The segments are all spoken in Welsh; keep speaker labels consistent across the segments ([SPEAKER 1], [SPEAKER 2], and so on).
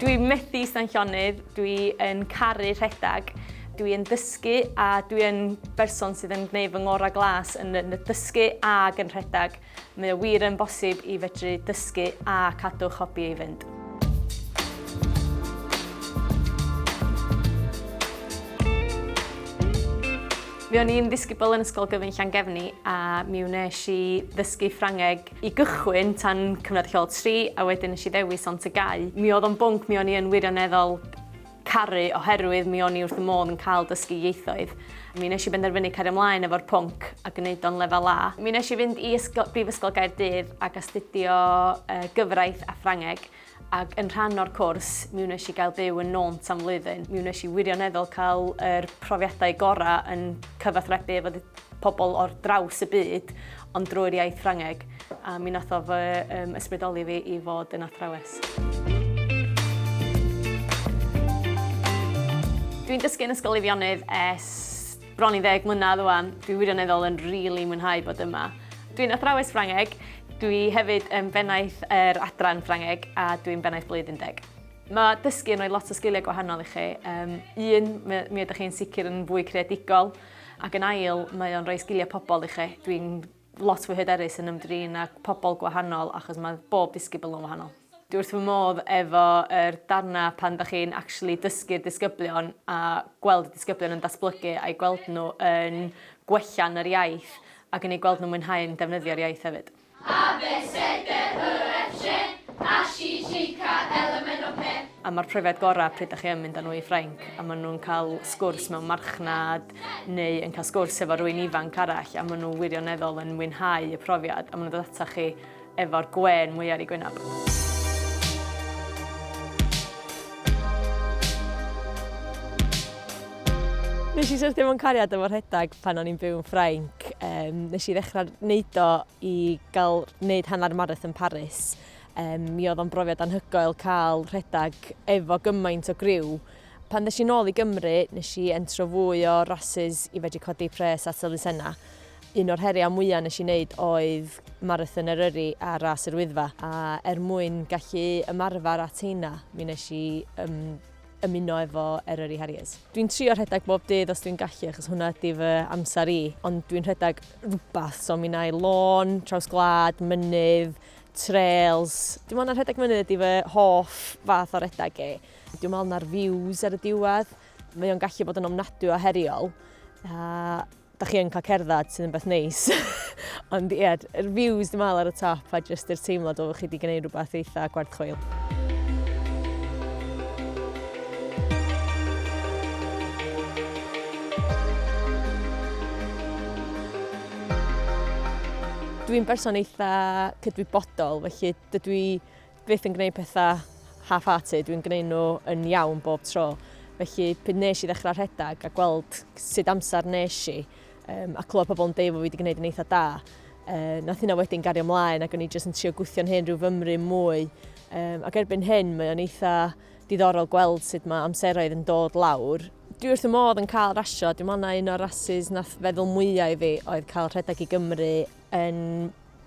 [SPEAKER 1] Dwi methu ista'n llonydd, dwi yn caru rhedeg, dwi yn dysgu a dwi yn berson sydd yn gwneud fy ngorau glas yn y dysgu ag yn rhedeg. Mae o wir yn bosib i fedru dysgu a cadw'ch hobi i fynd. Mi o'n i'n ddisgybl yn Ysgol Gyfun Llangefni a mi wnes i ddysgu Ffrangeg i gychwyn tan cyfnod lleol 3 a wedyn nes i ddewis ond tygau. Mi oedd o'n bwnc mi o'n i yn wirioneddol caru oherwydd mi o'n i wrth y modd yn cael dysgu ieithoedd. Mi nes i benderfynu cario ymlaen efo'r pwnc a gwneud o'n lefel A. Mi nes i fynd i ysgol, Brifysgol Gaerdydd ac astudio gyfraith a Ffrangeg. ac yn rhan o'r cwrs mi wnes i gael byw yn Nônt am flwyddyn. Mi wnes i wirioneddol cael yr profiadau gorau yn cyfathrebu efo pobl o'r draws y byd, ond drwy'r iaith Ffrangeg, a mi nath o fy um, ysbrydoli fi i fod yn athrawes. Dwi'n dysgu yn Ysgol Eifionydd es Bron i ddeg mlynedd ŵan, dwi wirioneddol yn rili mwynhau bod yma. Dwi'n athrawes Ffrangeg, dwi hefyd yn bennaeth yr adran Ffrangeg a dwi'n bennaeth blwyddyn deg. Mae dysgu yn rhoi lot o sgiliau gwahanol i chi. Um, un, mi, mi ydych chi'n sicr yn fwy creadigol, ac yn ail, mae o'n rhoi sgiliau pobl i chi. Dwi'n lot fwy hyderus yn ymdrin â pobl gwahanol achos mae bob disgybl yn wahanol. Dwi wrth fy modd efo yr darna pan dach chi'n actually dysgu'r disgyblion a gweld y disgyblion yn datblygu a'i gweld nhw yn gwella'n yr iaith ac yn eu gweld nhw'n mwynhau'n defnyddio'r iaith hefyd. A be se de hwyreth shen, a shi shika elemen o peth. A ma'r profiad gora pryd dach chi yn mynd â nhw i Ffrainc a ma' nhw'n cael sgwrs mewn marchnad neu yn cael sgwrs efo rwy'n ifanc arall a maen nhw wirioneddol yn mwynhau y profiad a maen nhw'n dod ata chi efo'r gwên mwy ar ei gwynaf. Nes i syrthio mewn cariad efo rhedeg pan o'n i'n byw yn Ffrainc. Um, nes i ddechrau wneud o i gael wneud hanner marath yn Paris. Um, mi oedd o'n brofiad anhygoel cael rhedeg efo gymaint o griw Pan ddes i'n ôl i Gymru, nes i entro fwy o rasys i fedru codi pres at elusennau. Un o'r heriau mwyaf nes i wneud oedd Marathon Eryri a Ras yr Wyddfa, a er mwyn gallu ymarfer at heina, mi nes i um, ymuno efo Eryri Harriers. Dwi'n trio rhedeg bob dydd os dwi'n gallu, achos hwnna ydy fy amser i, ond dwi'n rhedeg rhywbeth, so mi na'i lôn, traws glad, mynydd, trails. Dim ond rhedeg mynydd ydy fy hoff fath o redeg i. Dwi'n meddwl na'r views ar y diwedd, mae o'n gallu bod yn ofnadwy o heriol. A da chi yn cael cerdded sydd yn beth neis. Ond ie, yeah, yr views dwi'n meddwl ar y top a jyst yr teimlad o chi wedi gwneud rhywbeth eitha gwerth chweil. Dwi'n berson eitha cydwybodol, felly dydw i byth yn gwneud pethau half-hearted, dwi'n gwneud nhw yn iawn bob tro. Felly, pryd nes i ddechrau rhedeg a gweld sut amser nes i, um, a clywed pobl yn deud bod fi wedi gwneud yn eitha da, uh, nath hynna wedyn gario ymlaen ac o'n i jyst yn trio gwythio'n hyn rhyw fymru mwy. Um, ac erbyn hyn, mae o'n eitha diddorol gweld sut mae amseroedd yn dod lawr. Dwi wrth y modd yn cael rasio, dwi'n meddwl na un o'r rasis nath feddwl mwyaf i fi oedd cael rhedeg i Gymru yn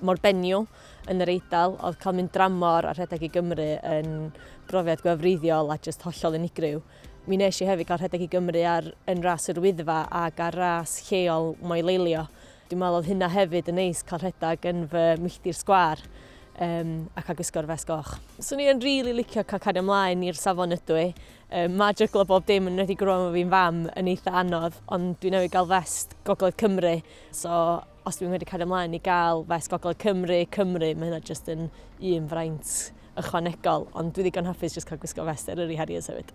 [SPEAKER 1] mor benniw yn yr Eidal, oedd cael mynd dramor a rhedeg i Gymru yn brofiad gwefreiddiol a jyst hollol unigryw. Mi nes i hefyd cael rhedeg i Gymru ar yn ras yr Wyddfa ac ar ras lleol moeleilio. Dwi'n meddwl oedd hynna hefyd yn neis cael rhedeg yn fy milltir sgwar um, ac a gwisgo'r fes goch. Swn i'n rili really licio cael cario ymlaen i'r safon ydw i. Um, mae jyglo bob dim yn wedi gwrw am fi'n fam yn eitha anodd, ond dwi'n newid gael fest Gogledd Cymru, so Os dwi'n wedi cael ymlaen i gael fes Gogledd Cymru, Cymru, mae hynna jyst yn un fraint ychwanegol, ond dwi ddigon hapus jyst cael gwisgo fes Eryri Harriers hefyd.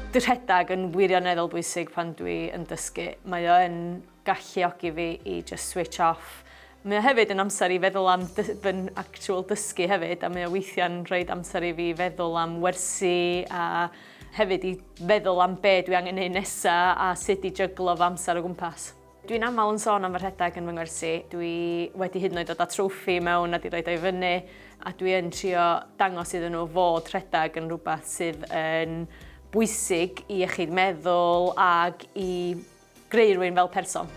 [SPEAKER 1] Dwi rhedeg yn wirioneddol bwysig pan dwi yn dysgu. Mae o yn galluogi fi i just switch off. Mae o hefyd yn amser i feddwl am fy actual dysgu hefyd a mae o weithiau'n rhaid amser i fi feddwl am wersi a hefyd i feddwl am be dwi angen neud nesa a sut i jyglo fy amser o gwmpas. Dwi'n aml yn sôn am fy rhedeg yn fy ngwersi, dwi wedi hyd yn oed dod â trofi mewn a 'di roid o i fyny a dwi yn trio dangos iddyn nhw fod rhedeg yn rhywbeth sydd yn bwysig i iechyd meddwl ac i Greu rwy'n fel person.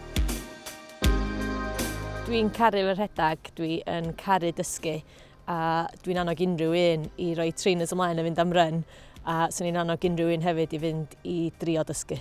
[SPEAKER 1] Dwi'n caru fy rhedeg, dwi yn caru dysgu a dwi'n annog unrhyw un i roi trainers ymlaen a fynd am run a swn i'n annog unrhyw un hefyd i fynd i drio dysgu.